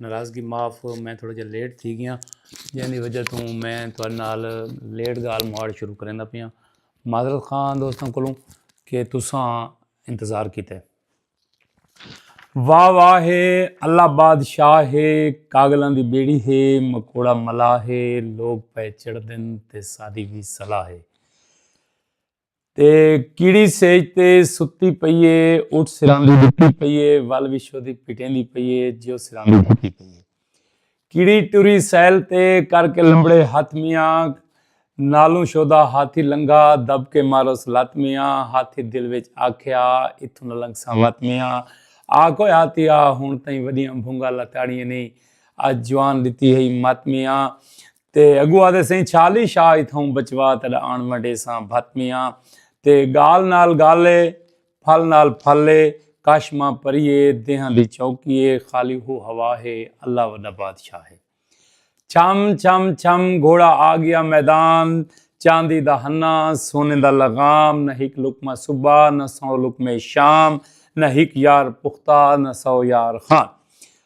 ناراضگی معاف میں تھوڑا جا لیٹ تھی گیا جن دی وجہ توں میں تھوڑے نال لیٹ گال مواڑ شروع کریں دا پیا معذرت خان دوستاں کولوں کہ تساں انتظار کیتے واہ واہ ہے اللہ بادشاہ ہے کاغلاں دی بیڑی ہے مکوڑا ملا ہے لوگ پہ چڑھ دن تے سادی بھی صلاح ہے تے کیڑی سیج تے ستی پئی اے اٹھ سراندی ڈتی پئی اے ول وشو دی پٹیندی پئی اے جیو سراندی ڈتی پئی اے کیڑی ٹری سیل تے کر کے لمبڑے ہتھ میاں نالوں شودا ہاتھی لنگھا دب کے ماروس لت میاں ہاتھی دل وچ آکھیا اتھوں نہ لنگھساں وت میاں آ کوئے ہاتھی آ ہن تئیں وڈیاں بھونگا لتاڑیاں نی اج جوان ڈتی ہئی مت میاں تے اگوں آدھے سئیں چھالی شاہ اتھاؤں بچوا تیڈا آن ونڈے ساں بھت میاں تے گال نال گال اے پھل نال پھل اے کش ماں پری اے دیہاں دی چوکی اے خالی ہو ہوا ہے اللہ وڈا بادشاہ ہے چھم چھم چھم گھوڑا آ گیا میدان چاندی دا ہنا سونے دا لغام نہ ہک لقمہ صبح نہ سو لقمے شام نہ ہک یار پختہ نہ سو یار خان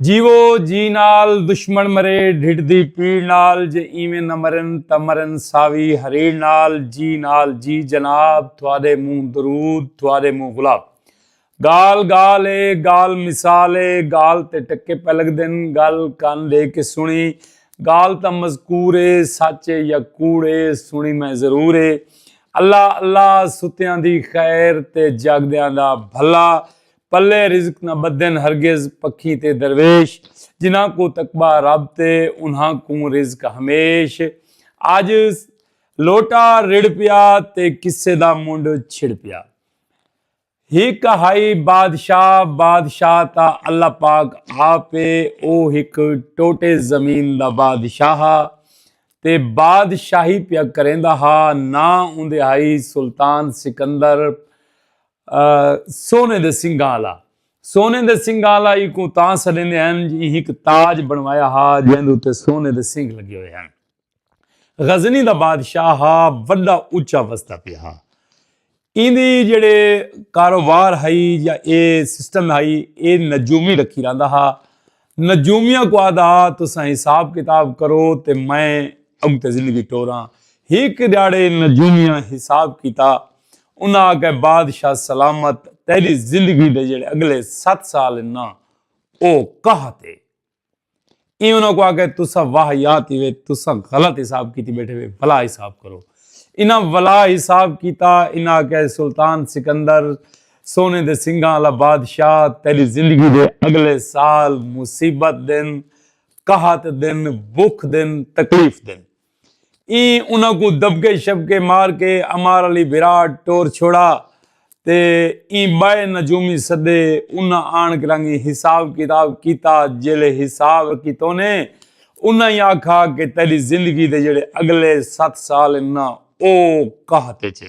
جیوو جی نال دشمن مرے ڈھڈ دی پیڑ نال جے ایویں نہ مرن تاں مرن ساوی ہریڑ نال جی نال جی جناب تھوادے منہ درود تھوادے منہ گلاب گال گال اے گال مثال اے گال تے ٹکے پہ لگدن گل کن دے کے سنی گال تاں مذکور اے سچ اے یا کوڑ اے سنی میں ضرور اے اللہ اللہ ستیاں دی خیر تے جاگدیاں دا بھلا پلے رزق نہ بدھن ہرگز پکھی تے درویش جنہاں کوں تقبہ رب تے انہاں کوں رزق ہمیش اج لوٹا رڑ پیا تے قصے دا منڈھ چھڑ پیا ہک ہائی بادشاہ بادشاہ تا اللہ پاک آپ اے او ہک ٹوٹے زمین دا بادشاہ ہا تے بادشاہی پیا کریندا ہا ناں اوندے ہائی سلطان سکندر سونے دے سنگاں آلا۔ سونے دے سنگاں آلا ایکوں تاں سڈیندے ہن جو ایہک تاج بنوایا ہا جیندے اتے سونے دے سنگ لگے ہوئے ہن۔ غزنی دا بادشاہ ہا وڈا اچا وسدا پیا ہا۔ ایندی جیڑھے کاروبار ہئی یا ایہ سسٹم ہئی ایہ نجومی رکھی رہندا ہا۔ نجومیاں کو آدھا تساں حساب کتاب کرو تے میں اگتے زندگی ٹوراں ہک دیاڑے نجومیاں حساب کیتا انہاں آکھے بادشاہ سلامت تیری زندگی دے جڑے اگلے ست سال نا او کہت ہے ای انہاں کو آکھے تساں واہ یات ہی وے تساں غلط حساب کیتی بیٹھے وے بلا حساب کرو انہاں ولا حساب کیتا انہاں آکھے سلطان سکندر سونے دے سنگھاں آلا بادشاہ تیری زندگی دے اگلے سال مصیبت دن قحط دن بھوک دن تکلیف دن این انہاں کو دبکے شبکے مار کے امار علی بھراٹ ٹور چھوڑا تے این بائے نجومی سدے انہاں آن کے رنگی حساب کتاب کیتا جیلے حساب کی تونے انہاں ہی آکھا کہ تیری زندگی دے جڑے اگلے ست سال انہاں او کہتے چھے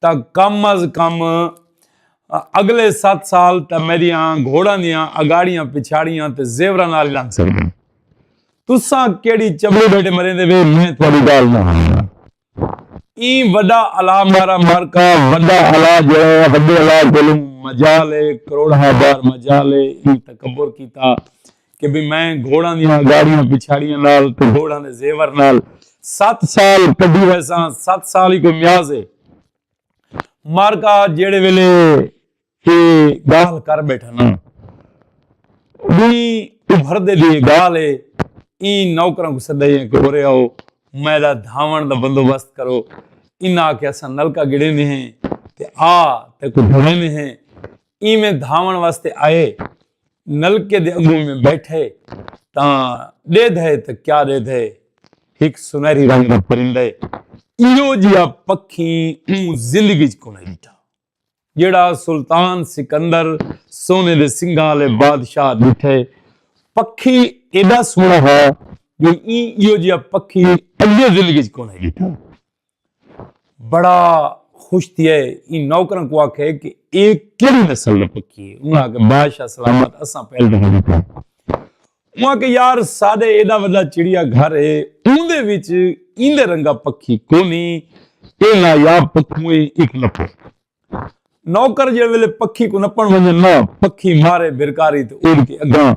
تا کم از کم اگلے ست سال تا میریاں گھوڑاں دیاں اگاڑیاں پچھاڑیاں تے زیوراں نال لنگ سکدے تساں کیڑی چبڑی بیٹے مرے دے وے میں تھوڑی گال نہ ہاں این وڈا الا مارا مارکا وڈا الا جو ہے وڈے الا گلوں مجالے کروڑ ہزار مجالے این تکبر کیتا کہ بھئی میں گھوڑاں دیاں اگاڑیاں پچھاڑیاں نال تے گھوڑاں دے زیور نال ست سال کڈی ویساں ست سال ہی کوئی میاز ہے مارکا جیڑے ویلے اے گال کر بیٹھا نا بھی ابھر دے لیے گال ہے این نوکراں کو سدا ہے کہ ہو رہے ہو میں دا دھاون دا بندوبست کرو انہاں آکھیا اساں نلکا گڑے نے ہیں تے آ تے کو دھوے نے ہیں ایویں دھاون واسطے آئے نلکے دے اگوں میں بیٹھے تاں ڈے دھے تاں کیا ڈے دھے ہک سنہری رنگ دا پرندے ایو جیا پکھی اوں زندگی چ کونے ڈٹھا جیڑا سلطان سکندر سونے دے سنگھاں والے بادشاہ ڈٹھے پکھی ایڈا سونا ہے جو ایں ایو جیا پکھی اگے زندگی چ کونے ڈٹھا بڑا خوش تھی ہے ان نوکرن کو آکھے کہ ایک کیڑی نسل نہ پکی ہے انہاں کہ بادشاہ سلامت اساں پہل دے ہوں پہ انہاں کہ یار سادے ایڈا وڈا چڑیا گھر ہے اون دے وچ ایندے رنگا پکی کونی اے نایاب پکویں ایک لپو نوکر جے ویلے پکھی کو نپن ونجے نہ پکھی مارے برکاری تے اڑ کے اگاں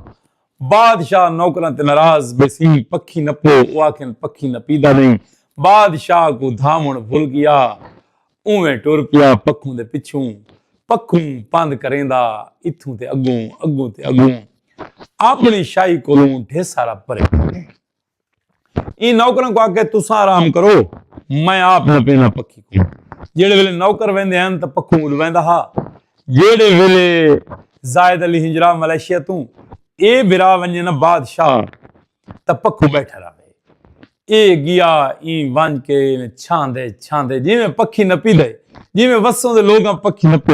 بادشاہ نوکراں تے ناراض بیسی پکھی نپو او آکھن پکھی نپیدا نہیں بادشاہ کو دھاون بھل گیا اوویں ٹر پیا پکھوں دے پچھوں پکھوں پند کریندا اتھوں تے اگوں اگوں تے اگوں اپنی شاہی کولوں ڈھیسا رب پرے ایں نوکراں کو آکھے تساں آرام کرو میں آپ نہ پینا پکھی کو جیڑے ویلے نوکر ویندے ہیں تو پکھوں اڑ ویندا ہا جیڑے ویلے زائد علی ہنجرا ملائیشیا تو اے برا ونجے نہ بادشاہ تو پکھوں بیٹھا رہے اے گیا ایں ونج کے چھان دے چھان دے جی میں پکھی نہ پی دے جی میں وسوں دے لوگاں پکھی نہ پی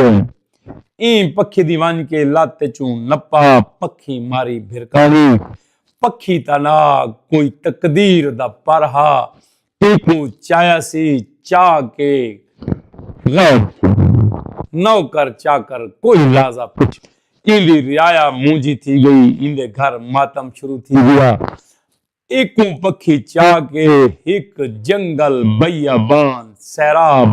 ایں پکھی دی ونج کے لات چوں نپا پکھی ماری بھرکانی پکھی تاں نہ کوئی تقدیر دا پر ہا اینکوں چایا سی چا کے غیب کوں نوکر چاکر کوئی لازہ پچھ ایندی رعایا مونجھی تھی گئی ایندے گھر ماتم شروع تھی گیا اینکوں پکھی چا کے ہک جنگل بیابان سیراب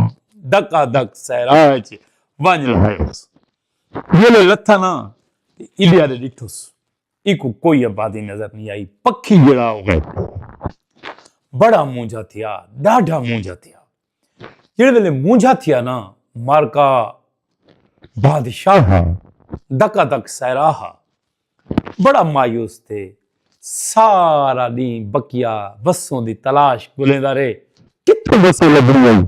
ڈکا ڈک صحرا اچ ونج لہائیس جیلے لتھا نہ تے ایندے آلے ڈٹھوس۔ ایکوں کوئی آبادی نظر نی آئی۔ پکھی جیڑھا او غیب تھی گیا۔ بڑا مونجھا تھیا، ڈاڈھا مونجھا تھیا۔ جیڑھے ویلے مونجھا تھیا نا مارکا بادشاہ ہا، دکا دک سیرا ہا۔ بڑا مایوس تھے۔ سارا ڈینہہ بکیا وسوں دی تلاش گھلیندا رہے۔ کتھوں وسوں لبھنی ہئی۔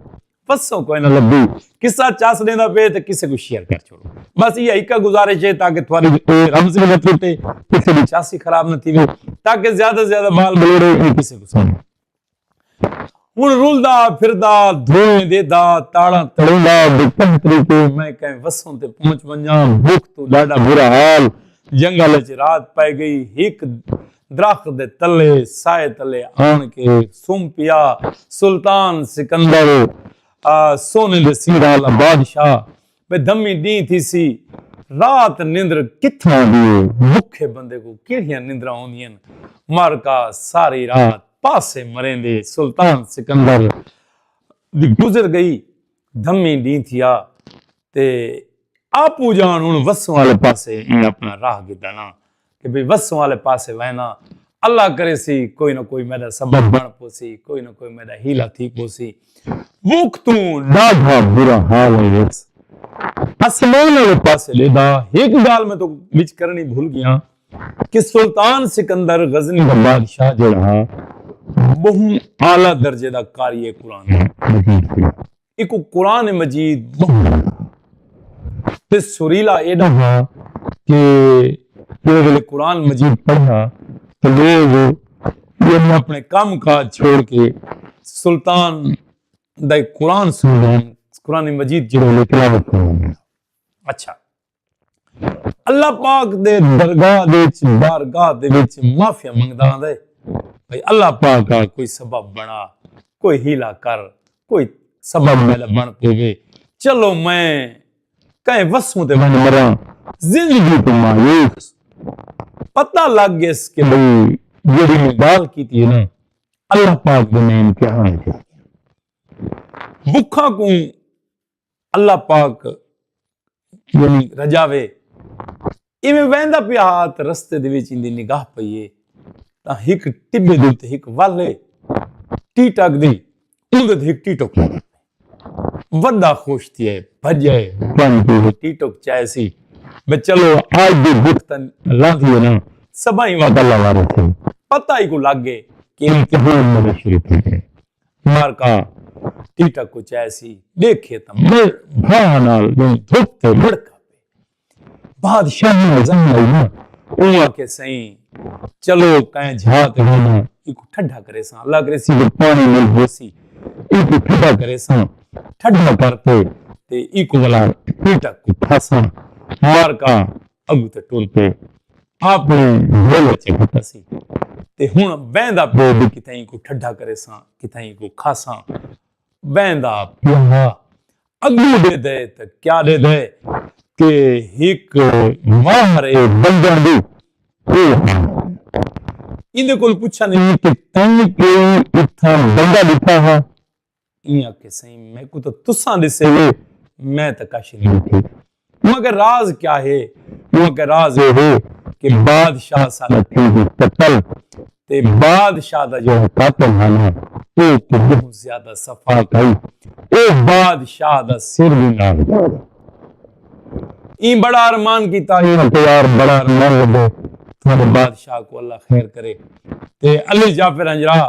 پسوں کوئی نہ لبی قصہ چاس دینا پہ تے کسے کو شیئر کر چھوڑو بس یہ ایک گزارش ہے تاکہ تھوڑی رمز نہ ٹوٹے کسے کی چاسی خراب نہ تھی تاکہ زیادہ زیادہ بال بلوڑے یہ کسے کو سن ہن رولدا پھردا دھویں دے دا تاڑا تڑوندا دے کہیں طریقے میں کہیں وسوں تے پہنچ ونجاں بھوک تو ڈاڈا برا حال جنگل وچ رات پائے گئی ایک درخت دے تلے، سائے تلے آن کے سم پیا۔ سلطان سکندر سونے دے سیراں آلا بادشاہ بے دھمی ڈینہہ تھیسی۔ رات نندر کتھوں آندی ہے۔ بکھے بندے کوں کیڑھیاں نندراں ہوندین۔ مارکا ساری رات پاسے مریندے۔ سلطان سکندر دی گزر گئی۔ دھمی ڈینہہ تھیا۔ تے آپو جان ہن وسوں آلے پاسے ایں اپنا راہ گھدنا کہ بھئی وسوں آلے پاسے وینا اللہ کرے سی کوئی نہ کوئی میڈا سبب بن پوسی کوئی نہ کوئی میڈا ہیلا تھی پوسی وقتوں ڈاڈھا برا حال ہے ویس اسمان آلے پاسے لے دا ایک گال میں تو بچ کرنی بھول گیا کہ سلطان سکندر غزنی کا بادشاہ جو رہا بہن آلہ درجے دا کاریے قرآن ہے ایک قرآن مجید تے سریلا ایڈا ہا کہ جڑے ویلے قرآن مجید پڑھا تو لوگ یعنی اپنے کام کاج چھوڑ کے سلطان دا قرآن سن قرآن مجید جڑے ویلے تلاوت کریں اچھا اللہ پاک دے درگاہ دے وچ بارگاہ دے وچ معافیا منگدا ہوندا ہے بھئی اللہ پاک آ کوئی سبب بنا کوئی ہیلا کر کوئی سبب میلا بن پوے چلو میں کہیں وسوں تے ون مرا زندگی تو مایوس پتہ لگ گیس کہ بھئی جڑی میں گال کیتی ہے نا اللہ پاک دے میں امتحان کیتی بکھا کو اللہ پاک یعنی رجاوے ایویں ویندا پیا ہا تے رستے دے وچ ایندی نگاہ پئیے تاں ہک ٹبے دے تے ہک ول ہے ٹیٹ اگ دی اوندے تے ہک ٹیٹک وڈا خوش تھی ہے بھجے بن کے ٹیٹک چائے سی میں چلو آج دے بختن لاندھی ہے نا سبائی وقت اللہ وارے تھے پتہ ہی کو لگ گئے کہ امتحان میں شروع تھی ہے مارکا ٹیٹا کو چیسی ڈیکھے تا مر بھاہ نال دوں دھوپ تے مڑکا پے بادشاہ نے عزم آئی نا او آکے سئیں چلو کائیں جھا تے ہونا ایکو ٹھڈا کرے ساں اللہ کرے سی جو پانی مل ہو سی ایکو ٹھڈا کرے ساں ٹھڈا کر تے تے ایکو والا ٹیٹا کو پھاساں مارکا اگو تے ٹر کے اپنی گھول اچے گھٹا سی تے ہن بیندا پے بھی کتائیں کو ٹھڈا کرے ساں کتائیں کو کھا ساں بیندا پیا اگو دے دے تے کیا دے دے کہ ہک ماہر اے بندہ دے او ایندے کول پوچھا نہیں کہ تیں کوئی اتھاں بندہ دتا ہا ایں آکھے سائیں میکوں تاں تساں ڈسے ہو میں تاں کچھ نہیں آکھے اوں آکھے راز کیا ہے اوں آکھے راز اے ہے کہ بادشاہ سارا تھی دی قتل تے بادشاہ دا جو قاتل ہے نا اے تے بہت زیادہ صفا کئی اے بادشاہ دا سر بھی نہ ہو ایں بڑا ارمان کیتا اے تے یار بڑا ارمان لگے تھوڑے بادشاہ کو اللہ خیر کرے تے علی جعفر انجرا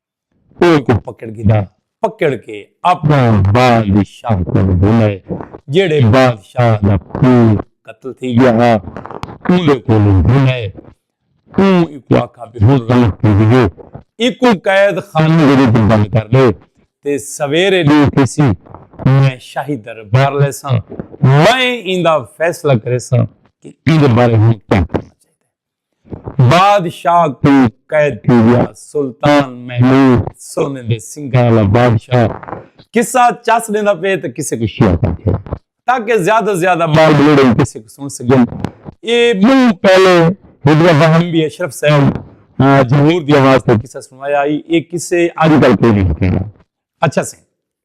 او اکوں پکڑ گھدا۔ پکڑ کے اپنا بال دی شاہ کولوں بھنائے۔ جیڑھے بادشاہ دا پھو قتل تھی گیا ہا۔ اوندے کولوں بھنائے۔ اوں اکوں آکھا بھئی ہن رات تھی گئی ہے۔ اکوں قید خانے دے وچ بند کر ڈے تے سویرے ڈینہہ تھیسی۔ میں شاہی دربار لیساں۔ میں ایندا فیصلہ کریساں کہ ایندے بارے ہن کیا کرنا چاہیدا ہے۔ بادشاہ کوں قید تھی ڳیا۔ سلطان محمود سونے دے سنگھاں آلا بادشاہ قصہ چس ݙیندا پئے تاں کسے کوں شیعت آکھے تاکہ زیادہ زیادہ ٻال ٻلوڑیں کسے کوں سݨ سڳن۔ اے ٻہوں پہلے ہک دفعہ ایم بی اشرف صاحب جھنگور دی آواز تے قصہ سݨوایا ہئی۔ اے قصے اڄ کل کوئی نئیں ہکیندا۔ اچھا سئیں!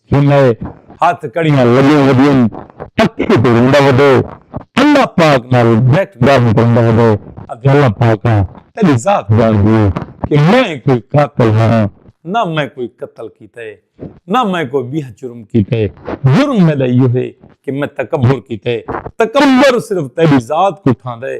سنئے ہتھ کڑیاں لگیاں ودین پکھی تے روندا ودے اللہ پاک نال بیٹھ گالھ کرندا ودے آکھدے اللہ پاکا تیڈی ذات جان دی اے کہ میں کوئی قاتل ہاں نہ میں کوئی قتل کیتا اے نہ میں کوئی بیہ جرم کیتا اے جرم میڈا ایہو اے کہ میں تکبر کیتا اے تکبر صرف تیڈی ذات کوں ٹھاندا اے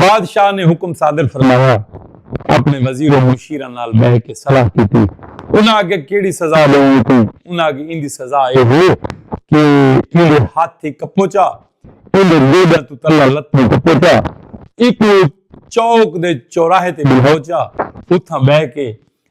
بادشاہ نے حکم صادر فرمایا۔ اپنے وزیر و مشیراں نال بہہ کے صلاح کیتی۔ انہاں آکھیا کیڑھی سزا ڈیوݨی اے توں؟ انہاں آکھیا ایندی سزا اے ہے کہ ایندے ہتھ ای کپوچا، ایندے گوڈیاں توں تلے لتاں کپوچا، ایکوں چوک دے چوراہے تے بلہوچا، اتھاں بہہ کے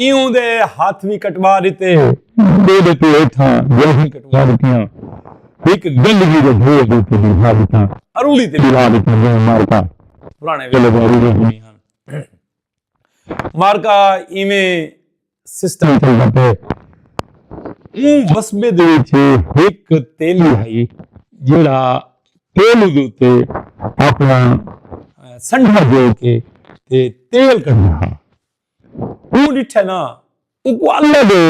ایوں دے ہتھ وی کٹوا ݙتے۔ ݙو ݙے توں ہیٹھاں جلھیں کٹوا ݙتیاں۔ ہک گلوی دے بھوہ دے اتے ٻیٹھا ݙتا۔ ارولی تے ٻیٹھا ݙتا جئیں مارکا پراݨے ویلے دا ارولی ہونی ہا۔ مارکا ایویں سسٹم چلدا پئے۔ اوں وسبے دے وچ ہک تیلی ہئی جیڑھا تیلی دے اتے اپنا سنڈھا جوڑ کے تے تیل کڈھدا ہا۔ اوں ڈٹھے نہ اونکوں اللہ دے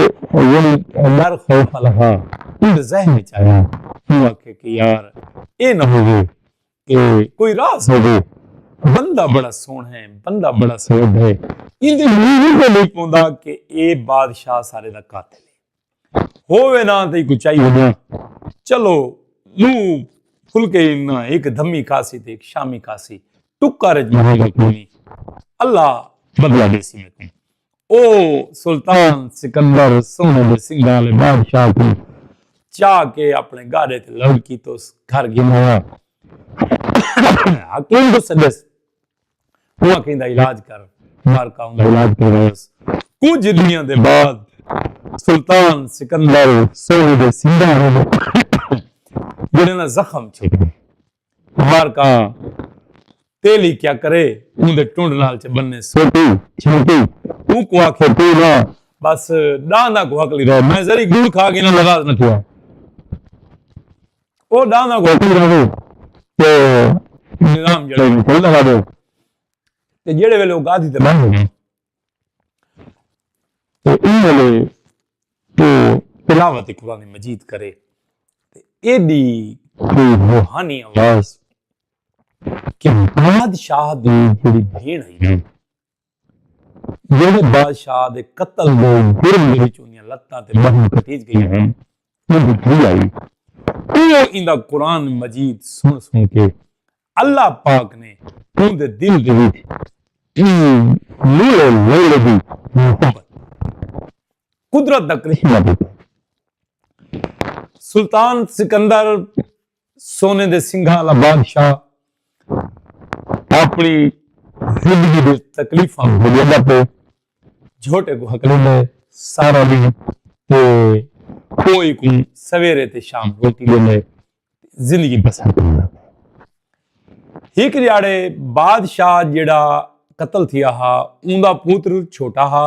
یعنی ڈر خوف آلا ہا۔ اوندے ذہن وچ آیا۔ اوں آکھے کہ یار اے نہ ہووے کہ کوئی راز ہووے۔ بندہ بڑا سوہنڑا ہے بندہ بڑا سوبھے۔ ایندے منہ وچ کوئی نئیں پوندا کہ اے بادشاہ سارے دا قاتل ہے۔ ہووے نہ تئی کو چائی ہونا چلو نو فلکے نہ ایک دھمی کاسی تے ایک شامی کاسی ٹکا رج مہی گا کونی اللہ بدلا دے سی میں او سلطان سکندر سونے دے سنگال بادشاہ کو چا کے اپنے گارے تے لڑکی تو گھر گھنایا حکیم کو سدس اوہ کہیں دا علاج کر مار کا اوندا علاج کروائس۔ کجھ ڈینہاں دے بعد سلطان سکندر سوہی دے سنگاں وچ جڑیں دا زخم چھک گئے۔ مار کا تیلی کیا کرے اوندے ٹنڈ نال چ بننے سوٹی چھنٹی اونکوں آکھے تو نہ بس ڈانداں کوں ہکلی رہے میں ذری گڑ کھا گھناں لغاز نہ تھیا۔ او دانا کو کوئی رہو تے نظام جڑے میں کوئی نہ رہو تے جڑے ویلے او گادی تے بند ہو گئے تے ان ویلے تو تلاوت قرآن مجید کرے تے ایڈی کوئی روحانی آواز کہ بادشاہ دی جڑی بھین ہے جیڑھے بادشاہ دے قتل دے جرم دے وچ اوندیاں لتاں تے ٻہوں کٹیج ڳئیاں ہن، اوندی دھی آئی۔ اوہ ایندا قرآن مجید سݨ سݨ کے اللہ پاک نے اوندے دل دے وچ ایں لولے لیلے دی محبت، قدرت دا کرشمہ ݙیتا۔ سلطان سکندر سونے دے سنگھاں آلا بادشاہ اپݨی زندگی دے تکلیفاں بھولیندا پئے، جھوٹے کوں ہکلیندا ہے سارا ݙینہہ تے کوئی کوں سویرے تے شام روٹی ݙیندا ہے زندگی بسر کریندا پئے۔ ہک ݙیہاڑے بادشاہ جیڑھا قتل تھیا ہا اوندا پتر چھوٹا ہا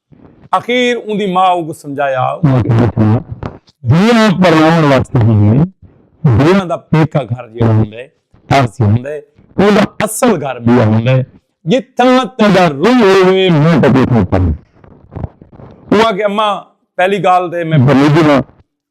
اخیر اوندی ماء اونکوں سمجھایا۔ اوہاں کیتے تھا دھیاں پرناون واسطے ہوندین۔ دھیاں دا پیکا گھر جیڑھا ہوندے تارسی ہوندے۔ اوندا اصل گھر بیا ہوندے۔ جتھاں تیڈا روح ہووے میں تیکوں اتھاں پاواں۔ اوہاں آکھیا اماں پہلی گالھ تے میں بھلی دیواں۔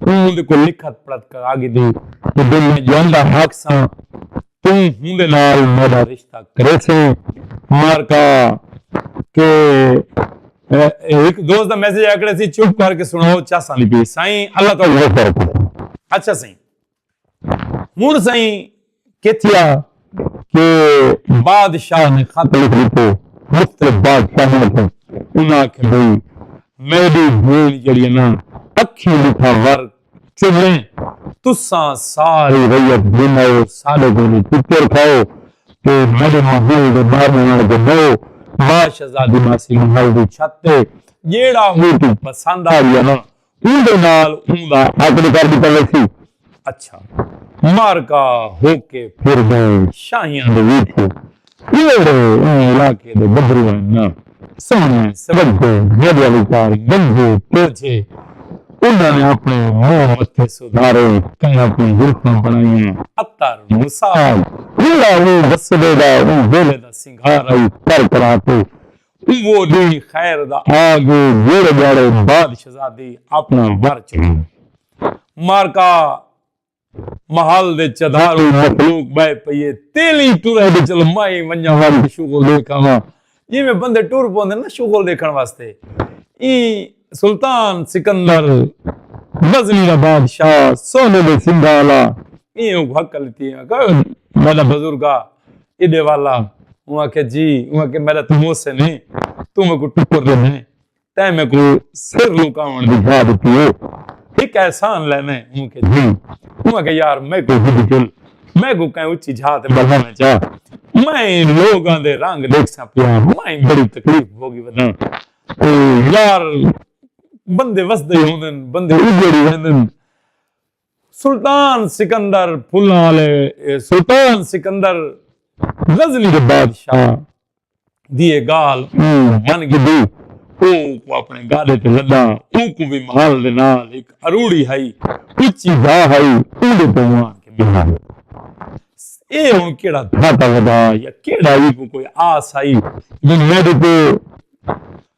توں اوندے کوں لکھت پڑھت کرا گھدی تے جے میں جیوندا ہاکساں توں ہوندے نال میڈا رشتہ کریسیں مارکا کہ ہک دوست دا میسج آکڑیسی چپ کر کے سنڑاؤ چاساں دی پی سائیں اللہ تہاڈی مغفرت کرے اچھا سائیں۔ ہن سائیں کیتھیا کہ بادشاہ نے خط لکھ دیتے مختلف بادشاہوں کو انہاں آکھے بھئی میری بھین جڑی نا اکھیں دکھا ور چلیں تساں ساری ریت گھماؤ سارے دن چکر کھاؤ تے میرے محل دے باہر نال کے بہو ماں شہزادی ماسی محل دی چھت تے جیڑا ہو تو پسند آ گیا نا اوندے نال اوندا عقد کر ݙتا ویسی۔ اچھا معرکہ ہو کے پھر ڳئے شاہیاں دے ویٹھے اوہڑے ایں علاقے دے گبھرو ہن ناں سوہݨے سوڳھے گݙ آلی کار گنجھے ٹوجھے انہاں نے اپݨے منہ متھے سدھارے کناں کوں زلفاں بݨائیاں عطر مساج جیڑھا اوں وسدے دا اوں ویلھے دا سنگھار ہئی کر کرا تے اوہ ڈینہہ خیر دا آ گے جیڑھے ڈھاڑے بعد شہزادی اپنا ور چنی۔ معرکہ محل دے چدھاروں مخلوق بہہ پئیے تیلی ٹرے تے چلو مائیں ونجاں واری شغل ڈیکھ آواں جیویں بندے ٹر پوندے نا شغل ڈیکھن واسطے ایں سلطان سکندر غزنی دا بادشاہ سونے دے سنگھاں آلا ایں اونکوں ہکل ݙتی اوں آکھیا میݙا بزرگا ایݙے والا اوں آکھیا جی اوں آکھیا میݙا توں محسن ہیں توں میکوں ٹکر ݙے میں تیں میکوں سر لکاوݨ دی جاہ ݙتی ہے ہک احسان لے میں اوں آکھیا جی اوں آکھیا یار میکوں ہݙ جل میکوں کہیں اچھی جھا تے بہاویں چا میں لوکاں دے رنگ ݙیکھساں پیا میں بڑی تکلیف بھوگی وداں او یار بندے وسدے ہوندن بندے اجڑ ویندن سلطان سکندر پھلاں آلے سلطان سکندر غزنی دے بادشاہ دی اے گالھ من گھدی اونکوں اپنے گاڈے تے لدا اونکوں وی مال دے نال ہک اروڑی ہئی اچی جاہ ہئی اوندے تے اوہ آن کے بیہا۔ اے ہوں کیڑا گھاٹا ودا یا کیڑا ہی کو کوئی آس آئی جو میڈی کو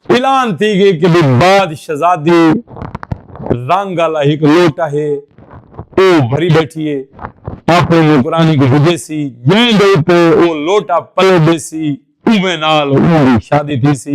اعلان تھی گئے کہ بھی بعد شہزادی رنگ والا ہک لوٹا ہے او بھری بیٹھی ہے آپ نوکرانی کو بھجے سی جیں دے تے او لوٹا پلے دے سی اوے نال اون شادی تھی سی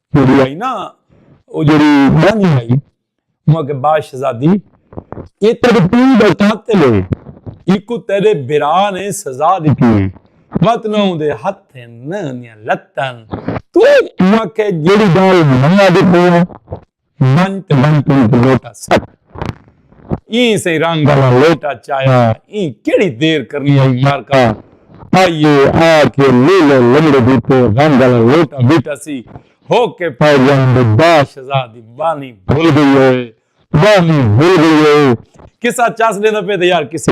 جیڑھی آئی نا او جیڑھی مانی آئی مو کے با شہزادی اے تیرے پیو دا قاتل ہے ایکو تیرے برا نے سزا دیتی ہے وت نہ اون دے ہتھ ہیں نہ اندیاں لتاں تو مو کے جیڑھی گال منا دیتی ہے بن تے بن تے لوٹا سک ایں سئیں رنگ آلا لوٹا چایا ایں کیڑھی دیر کرنی ہئی مارکا پائیے آ کے لیلو لمڑے دی تے رنگ آلا لوٹا بیٹا سی ہو کے پائے جان دے با شزا دی بانی بھل گئی ہوئے بانی بھل گئی ہوئے قصہ چس ڈیندا پئے تے یار قصے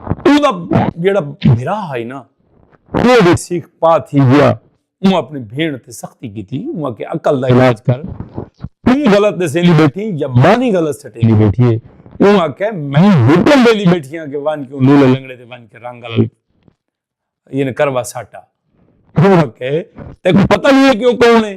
اودا جیڑا بھرا ہے نا وہ بھی سیکھ پا تھی گیا اون اپنی بھین تے سختی کی تھی اون کے عقل دا علاج کر توں غلط دے سیلی بیٹھی یا بانی غلط سٹے لی بیٹھی ہے اون آکے میں ہوٹل دے لی بیٹھی ہاں کہ وان کیوں لولے لنگڑے دے وان کے رنگ گلل یہ نے کروا ساٹا اون آکے تیکو پتہ نہیں ہے کیوں کون ہے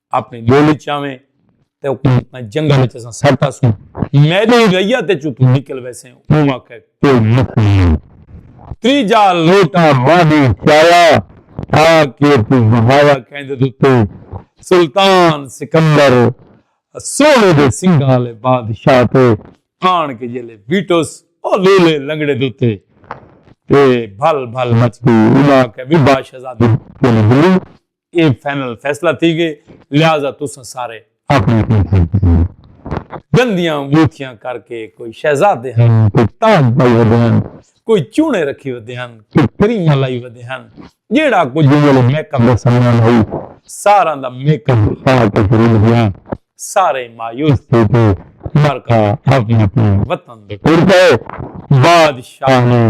اپنی ڈولی چاویں تے حکومت نہ جنگل وچ اساں سٹ آسوں میدے ریا تے چتوں نکل ویسیں اوں واقعہ کوئی مکھ نہیں تری جا لوٹا مانی چایا تھا کہ تو مہاوا کہندے دوتے سلطان سکندر سونے دے سنگھالے بادشاہ تے آن کے جیلے ویٹوس او لولے لنگڑے دوتے تے بھل بھل مچ گئی انہاں کہ بھی بادشاہ زادی کیوں نہیں اے فائنل فیصلہ تھی گئے لہذا تساں سارے اپنی اپنی تھاں تے بہو۔ گندیاں انگوتھیاں کر کے کوئی شہزادے ہن کوئی تاج پائی ودے ہن کوئی چونے رکھی ودے ہن کوئی کریماں لائی ودے ہن جیہڑا کجھ اوں ویلے میک اپ دا سامان ہئی ساراں دا میک اپ اٹھا کے پھرل گیا سارے مایوس تھی تے مرکا اپنے اپنے وطن دے ٹر پئے بادشاہ نے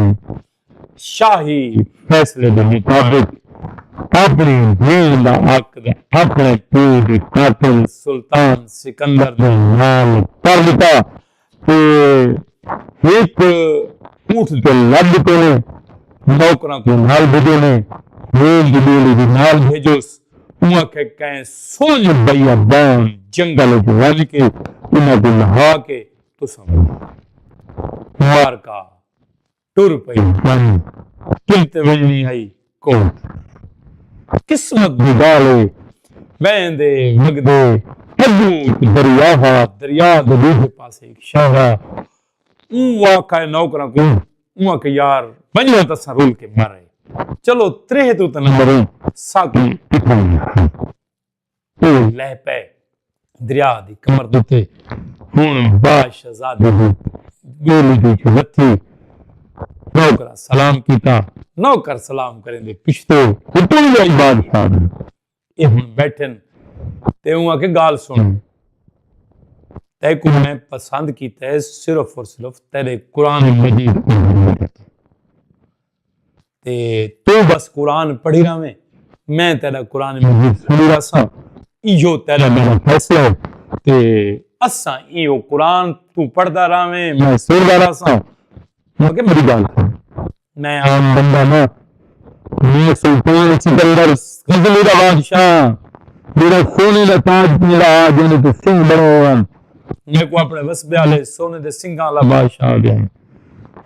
شاہی فیصلے دے مطابق اپݨی بھیݨ دا عقد اپݨے پیو دے قاتل سلطان سکندر دے نال کر ݙتا تے ہک اونٹ تے لد ݙتے نے نوکراں کوں نال بھیجے نے بھیݨ دی ݙولی وی نال بھیجوس اوں آکھے کئیں سنڄ بیابان جنگل اچ ونڄ کے انہاں کوں لہا کے تساں کوں مار کا ٹر پئی ونڄ کل تے ونڄݨی ہئی کوٹ قسمت دی ڳالھ اے ویندے وڳدے اڳوں ہک دریا ہا دریا دے ݙوجھے پاسے ہک شہر ہا اوں آکھائے نوکراں کوں اوں آکھے یار ونڄو تاں اساں رل کے مر آئے چلو تریہہ توں تاں نہ مروں ساکوں اتھاں ونڄݨ ہئی او لہہ پئے دریا دی کمر دتے ہن با شہزادی دی ٻیلی وچ وتھی نوکراں سلام کیتا نوکر سلام کریندے پچھتے حکم جائی بادشاہ دے اے ہن بیٹھن تے اوں آکھے گال سن تے کو میں پسند کیتا ہے صرف اور صرف تیرے قرآن مجید کو تے توں بس قرآن پڑھی رہویں میں تیرا قرآن مجید سنی رہساں ایہو تیرا میرا فیصلہ ہے تے اساں ایہو قرآن توں پڑھدا رہویں میں سندا رہساں مگر میری گال سن میں عام بندہ نہ میں سلطان سکندر غزلی دا بادشاہ میرا سونے دا تاج میرا آ جانے تے سنگ بڑے ہوئے میں کو اپنے وسبے والے سونے دے سنگاں والا بادشاہ آ گیا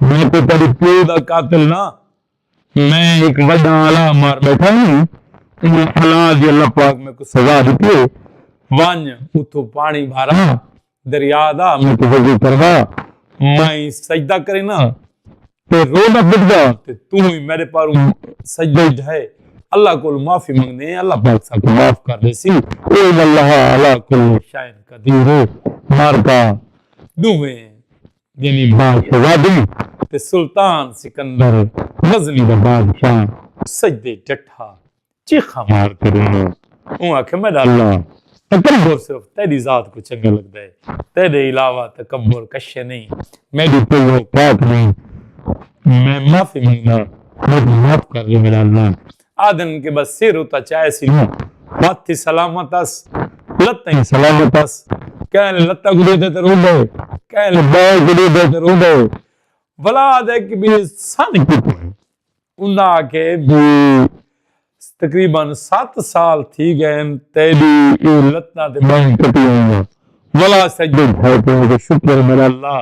میں کوئی تیڈے پیو دا قاتل نہ میں ہک وڈا الا مار بیٹھا ہوں انہاں الا دی اللہ پاک میکوں سزا ڈتی ہے ونج اتھوں پانی بھارا دریا دا میکوں وضو کروا میں سجدہ کرینا تے روزہ بٹدا تے توں ہی میرے پاروں سجدہ ڈھائے اللہ کول معافی منگنے اللہ پاک سا کو معاف کر دے سی اے اللہ علا کل شاعر قدیر مارکا دوویں یعنی بھاء شہزادی تے سلطان سکندر غزنی دا بادشاہ سجدے ءچ ڈٹھا چیخاں مار تے رویا۔ اوں آکھیا میڈا اللہ تکبر صرف تیڈی ذات کوں چنگا لگدا ہے تیڈے علاوہ تکبر کشے نئیں میڈی کوئی اوقات نئیں میں معافی منگدا میکوں معاف کر ڈے میڈا اللہ۔ آدھن کہ بس سر اتا چائے سی لو ہاتھ ہی سلامت اس لتہ ہی سلامت اس کہہ لے لتہ کو دے دے تے رو دے کہہ لے بال کو دے دے تے رو دے ولا دے کہ بھی سن کی پوئے انہا کے بھی تقریبا سات سال تھی گئے ہیں تیلی یہ لتنا دے بائیں کٹی ہوئی ہیں ولا سجد ہے کہ شکر میرا اللہ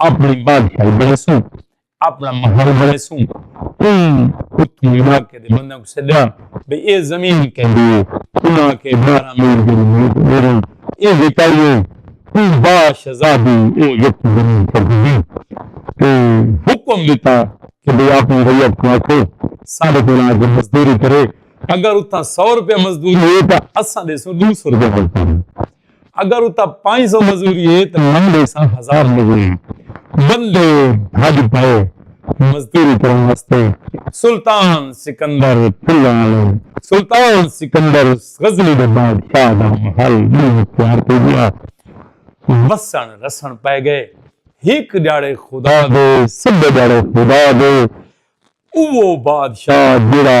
اپنی بادشاہی بنیسوں اپنا محل بنیسوں اون اتھوں علاقے دے بندیاں کو سڈیا بھئی اے زمین کیندی ہے انہاں کے بارہ میل جڑی میل تے میری اے وکائی ہے اون با شہزادی او یکوں زمین کیندی ہے تے حکم دیتا کہ بھئی اپنی ریت کو آکھو سارے کو آ کے مزدوری کرے اگر اتھاں سو روپے مزدوری ہے تو اساں دیسوں دو سو روپے مزدوری اگر اتا پانچ سو مزوری ہے تو من دے سا ہزار مزوری بندے بھج پائے مزدوری کرنے واسطے سلطان سکندر پھلوالے سلطان سکندر غزنی دے بادشاہ دا محل اختیار کر دیا وسن رسن پائے گئے ہک جاڑے خدا دے سب جاڑے خدا دے او بادشاہ جڑا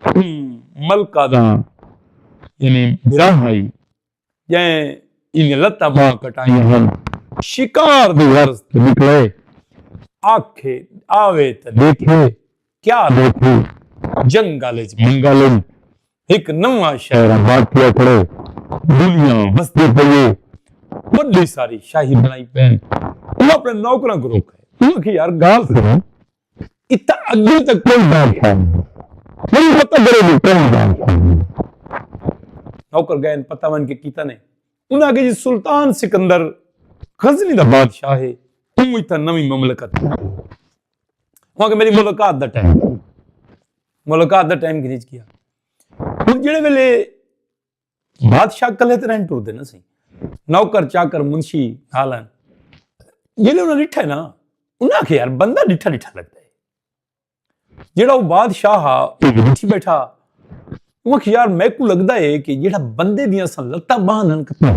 کھڑی ملکہ دا یعنی بھرا ہئی جئیں ایندیاں لتاں ٻانہہ کٹائیاں ہن۔ شکار دی غرض تے نکلے۔ آکھے آوے تاں ݙیکھے، کیا ݙیکھوں؟ جنگل اچ منگل اے۔ ہک نواں شہر آباد تھیا کھڑے۔ دنیا وسدی پئی اے۔ وݙی ساری شاہی بݨائی پئن۔ او اپݨے نوکراں کوں روکے۔ اوں آکھے یار ڳالھ سݨو۔ اتھاں اگے تاں کوئی بادشاہ نی ہسا ہن پتہ کرو جو کوئی بادشاہ نی نوکر گئے ہن پتہ ونج کے کیتا نے انہاں آکھیا جی سلطان سکندر غزنی دا بادشاہ ہے اوں اتھاں نویں مملکت بنائی ہے انہاں آکھیا میری ملاقات دا ٹائم ملاقات دا ٹائم گھنچ گیا ہن جڑے ویلے بادشاہ کلے تے رہن ٹردے نہ سی نوکر چاکر منشی نالن جیلے انہاں ڈٹھا ہے نا انہاں کے یار بندہ ڈٹھا ڈٹھا لگتا ہے جیڑا وہ بادشاہ ہا وہ ڈٹھی بیٹھا وہ یار میں کو لگتا ہے کہ جیڑا بندے دیاں سن لتا باہن ہن کتا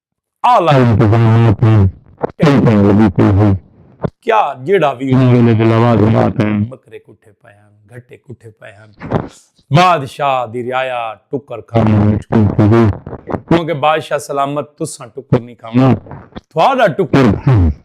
اعلی انتظامیہ توں ٹینشن لگی پئی ہئی کیا جیڑھا وی انہاں ویلے دے لوازمات ہن بکرے کٹھے پئے ہن گھٹے کٹھے پئے ہن بادشاہ دی رعایا ٹکر کھاوݨ مشکل تھی گئی کیونکہ بادشاہ سلامت تساں ٹکر نی کھاوݨا تھاڈا ٹکر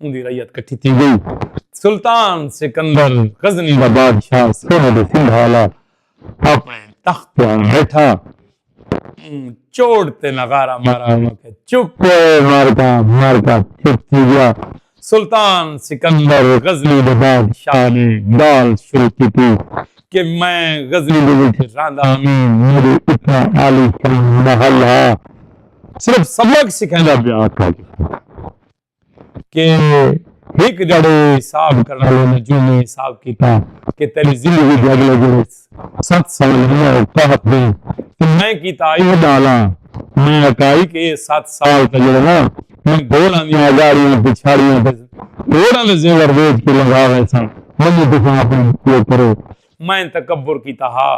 اوندی رعیت کٹھی تھی گئی۔ سلطان سکندر غزنی دا بادشاہ سونے دے سنگھ آلا اپنڑے تخت تے آن بیٹھا۔ اوں چوٹ تے نغارہ مارا اوں آکھیا چپ اے معرکہ معرکہ چپ تھی گیا۔ سلطان سکندر غزنی دے بادشاہ نے گال شروع کیتی کہ میں غزنی دے وچ رہندا ہمی میڈے اتنا عالی شان محل ہا۔ صرف سبق سکھیندا پیا۔ کہ ہک جھڑے حساب کرݨ آلے نجومی حساب کیتا کہ تیݙی زندگی دے اڳلے جھڑے ست سال انہاں اچ تحت ہن تے میں کیتا آئی وݙا ہلاں۔ میں آکھائی کہ ایہ ست سال تاں جھڑے نا میں گھوڑاں دیاں اڳاڑیاں، پچھاڑیاں تے گھوڑاں دے زیور ویچ کے لنگھا ویساں، منجھوں تساں اپݨے اوپر مائیں تکبر کیتا ہا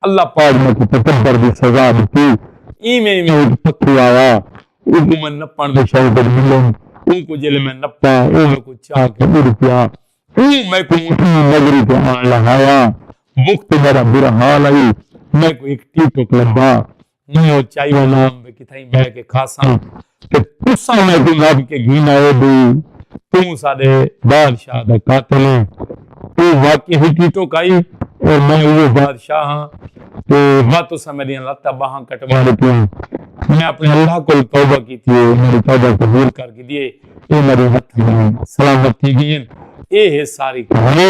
اللہ پاک میکوں تکبر دی سزا ݙتی۔ ایویں ایویں ہک پکھو آیا، اونکوں میں نپݨ دے شوق وچ ملیم۔ اونکوں جیلے میں نپا، او میکوں چاہ کے اݙ پیا۔ اوں میکوں ایں نظری تے آن لہایا۔ وخت میݙا برا حال ہئی، میکوں ہک ٹی ٹک لبھا۔ میں او چائی وناں تے کتھائیں بہہ کے کھاساں تے تساں میں کوں نبھ کے گھن آئے بی توں ساڈے بادشاہ دا قاتل ایں۔ او واقعی ہئی ٹیٹو کائی اور میں اوہو بادشاہ ہاں تے وا تساں میڈیاں لتاں باہاں کٹوا ڈتیاں۔ میں اپنے اللہ کول توبہ کیتی ہے او میڈی توبہ قبول کر گھدی ہے۔ اے میڈے ہتھاں نال سلامت تھی گئین۔ اے ہے ساری کہانی۔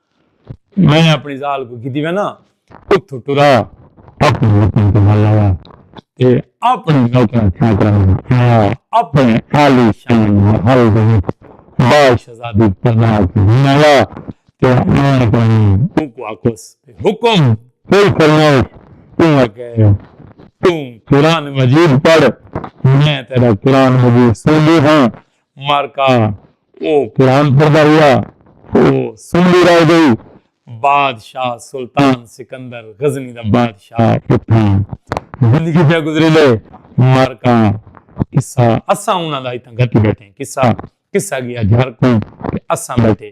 میں اپݨی ذال کوں گھدی وینا اتھوں ٹرا اپݨے وطن تے ہل آیا تے اپݨے نوکراں چاکراں نال آیا اپݨے عالی شان محل دے وچ بال شہزادی پرناہ کوں گھن آیا تے آن تے اونکوں آکھوس بھئی حکم کوئی فرمائش اوں اگے توں قرآن مجید پڑھ میں تیݙا قرآن مجید سݨدی ہاں معرکہ او قرآن پڑھدا رہیا او سمدی رہ گئی بادشاہ سلطان سکندر غزنی دا بادشاہ اتھاں زندگی پیا گزریندے معرکہ قصہ اساں انہاں دا اتھاں گھتی بیٹھے قصہ قصہ گیا جھر کوں تے اساں بیٹھے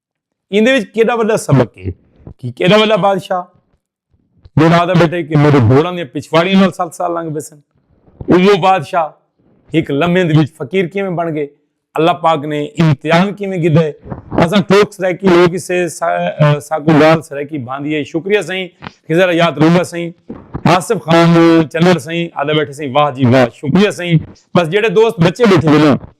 ایندے وچ کیڑا وڈا سبق ہے کہ کیڑا وڈا بادشاہ جڑا آدھا بیٹھے کہ میرے گھوڑا نے پچھواڑی نال سال سال لنگ بیسن وہ بادشاہ ایک لمحے دے وچ فقیر کیویں بن گئے اللہ پاک نے امتحان کیویں گدا ہے اساں ٹوک سرائیکی لوگ اسے ساکو گال سرائیکی باندھی ہے شکریہ سائیں کہ ذرا یاد رہا سائیں آصف خان چنر سائیں آدھا بیٹھے سائیں واہ جی واہ شکریہ سائیں بس جڑے دوست بچے بیٹھے نا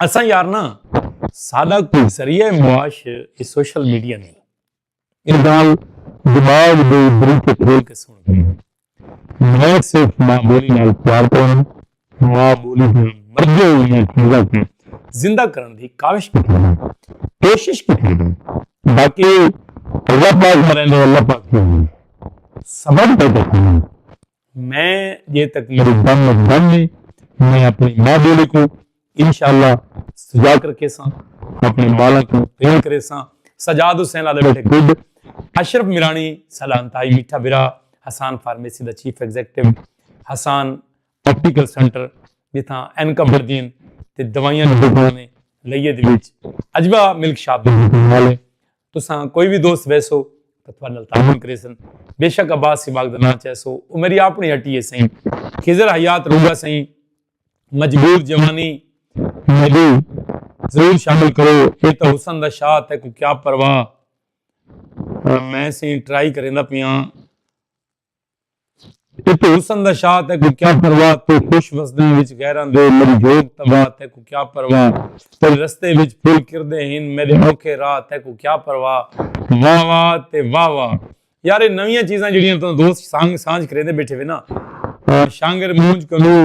اساں یار نا سادہ کوئی ذریعہ معاش یہ سوشل میڈیا نہیں یہ گال دماغ دے بریکے کھول کے سن گئی میں صرف ماں بولی نال پیار کروں ماں بولی دے مرگے ہوئی چیزاں کو زندہ کرن دی کاوش کی تھی کوشش کی تھی باقی اللہ پاک مرے نے اللہ پاک کی ہوئی سبب دے دکھوں میں جے تک میری دم دم ہے میں اپنی ماں بولی کو انشاءاللہ سجا کر کے ساں اپنی مالا کو تین کرے ساں سجاد حسین لالے بیٹھے گڈ اشرف میرانی سلام تائی میٹھا برا حسان فارمیسی دا chief executive Hassan optical centre جتھاں این کا بردین تے دوائیاں نے لئیے دے وچ اجبا ملک شاپ دے والے تساں کوئی وی دوست ویسو تاں تھوڑے نال تعاون کریسن بے شک عباس سباق دا نام چیسو او میری اپنی ہٹی ہے سائیں خضر حیات روگا سائیں مجبور جوانی میڈی ضرور شامل کرو اے تا حسن دا شاہ تے کو کیا پرواہ میں سائیں ٹرائی کریندا پیاں اتو حسن دا شاہ تیکوں کیا پرواہ تو خوش وسدیں وچ غیراں دے میݙی جھوڳ تباہ تیکوں کیا پرواہ تیݙے رستے وچ پھل کھردے ہن میݙے اوکھے راہ تیکوں کیا پرواہ واہ واہ تے واہ واہ یار اے نویاں چیزاں جیڑھیاں توں دوست سانگ سانجھ کریندے بیٹھے وے نا شانگر مونجھ کنوں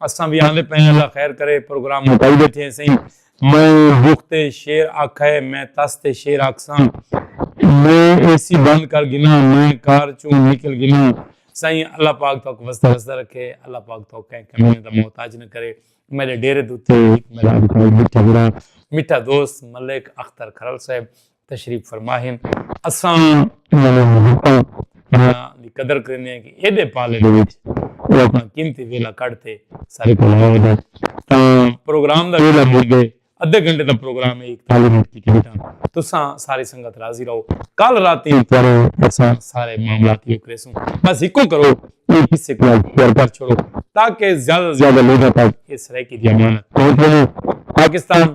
اساں وی آندے پئے ہیں اللہ خیر کرے پروگرام مکائی بیٹھے ہیں سئیں میں رخ تے شیر آکھئے میں تس تے شیر آکھساں میں اے سی بند کر گھناں میں کار چوں نکل گھناں سئیں اللہ پاک توک وسدا وسدا رکھے اللہ پاک توک کہیں کمینے دا محتاج نہ کرے میڈے ڈیرے دوتے ہک میڈا مٹھا دوست ملک اختر کھرل صاحب تشریف فرما ہن اساں انہاں دے محبتاں دی قدر کریندے ہیں کہ ایڈے پالے دے وچ وہ اپنا قیمتی ویلا کڈ تے سارے کو آئے دے تاں پروگرام دا ویلا مل گئے ادھے گھنٹے دا پروگرام ہے ایک تعلیم مٹ کی کیتا تساں ساری سنگت راضی رہو کل راتی کرو تساں سارے معاملات یہ کرے سوں بس ایک کو کرو یہ کسی کو شیئر کر چھوڑو تاکہ زیادہ زیادہ لوگوں تک اس رہے کی دیامانت پہنچ پاکستان